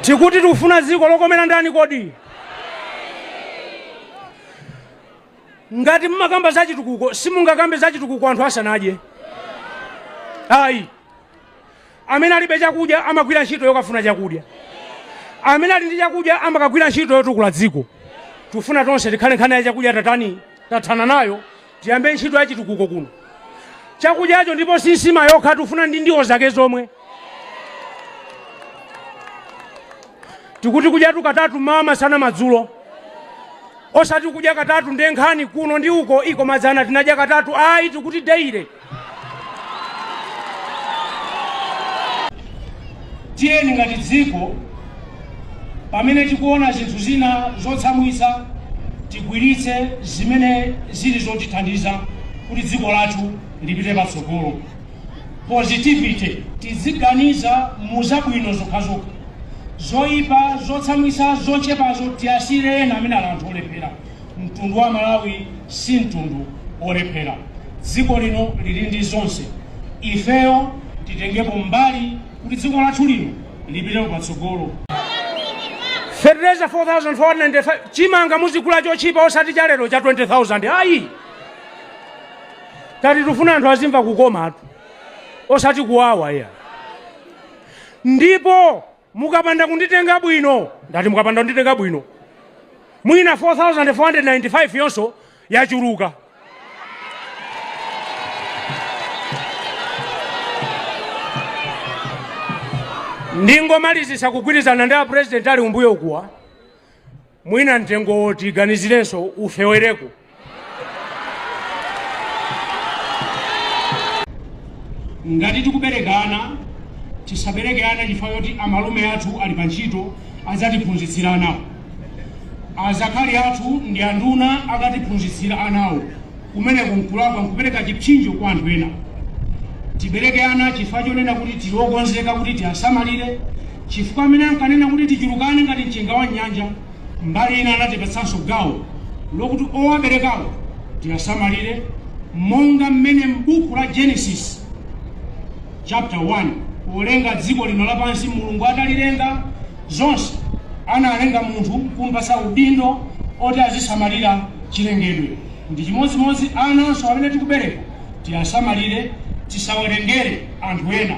Tikuti tikufuna dziko lokomera ndani kodi? Ngati mumakamba za chitukuko, simungakambe za chitukuko anthu asanadye. Ayi. Amene alibe chakudya amagwira ntchito yokafuna chakudya. Amene ali ndi chakudya amakagwira ntchito yotukula dziko. Tikufuna tonse tikhale nkhani ya chakudya tatani tathana nayo Tiyambe ntchito ya chitukuko kuno. Chakudyacho ndipo si nsima yokha, tikufuna ndi ndiwo zake zomwe. Tikuti kudyatu katatu mmawa, masana, madzulo, osati kudya katatu nde nkhani kuno ndi uko iii koma dzana tinadya katatu ayi, tikuti daily. Tiyeni ngati dziko, pamene tikuona zinthu zina zotsamwitsa, tigwiritse zimene zili zotithandiza kuti dziko lathu lipite patsogolo, positivity. Tiziganiza mu zabwino zokhazokha, zoipa, zotsamwitsa, zochepazo tiasiyire ena amene ali anthu olephera. Mtundu wa Malawi si mtundu wolephera. Dziko lino lili ndi zonse. Ifeyo titengemo mbali kuti dziko lathu lino lipitepo patsogolo. Fertilizer 4495 chimanga muzigula chotchipa osati cha lero cha 20000 ayi tati tufuna anthu azimva kukoma tu osati kuwawa iyayi ndipo mukapanda kunditenga bwino, ndati mukapanda kunditenga bwino, mwina 4495 yonso yachuluka. Ndingomalizisa kugwirizana ndi a president ali kumbuyo kunowa, mwina mtengowo tiganizirenso ufewereko ngati tikubereka ana tisabereke ana chifukwa choti amalume athu ali pa ntchito adzatiphunzitsira anawo azakhali athu ndi anduna akatiphunzitsira anawo Kumeneko n'kulakwa, n'kupereka chipsinjo kwa anthu ena. Tibereke ana chifukwa chonena kuti tili okonzeka kuti tiasamalire, chifukwa amene ankanena kuti tichulukane ngati mchenga wa m'nyanja mbali ina anatipatsanso gawo lokuti owaberekawo tiasamalire monga mmene m'buku la Genesis chapter 1. Polenga dziko lino lapansi, Mulungu atalilenga zonse, analenga munthu n'kumupatsa udindo oti azisamalira chilengedwe. Ndi chimodzimodzi ananso amene tikubereka, tiyasamalire, tisawerengere anthu ena.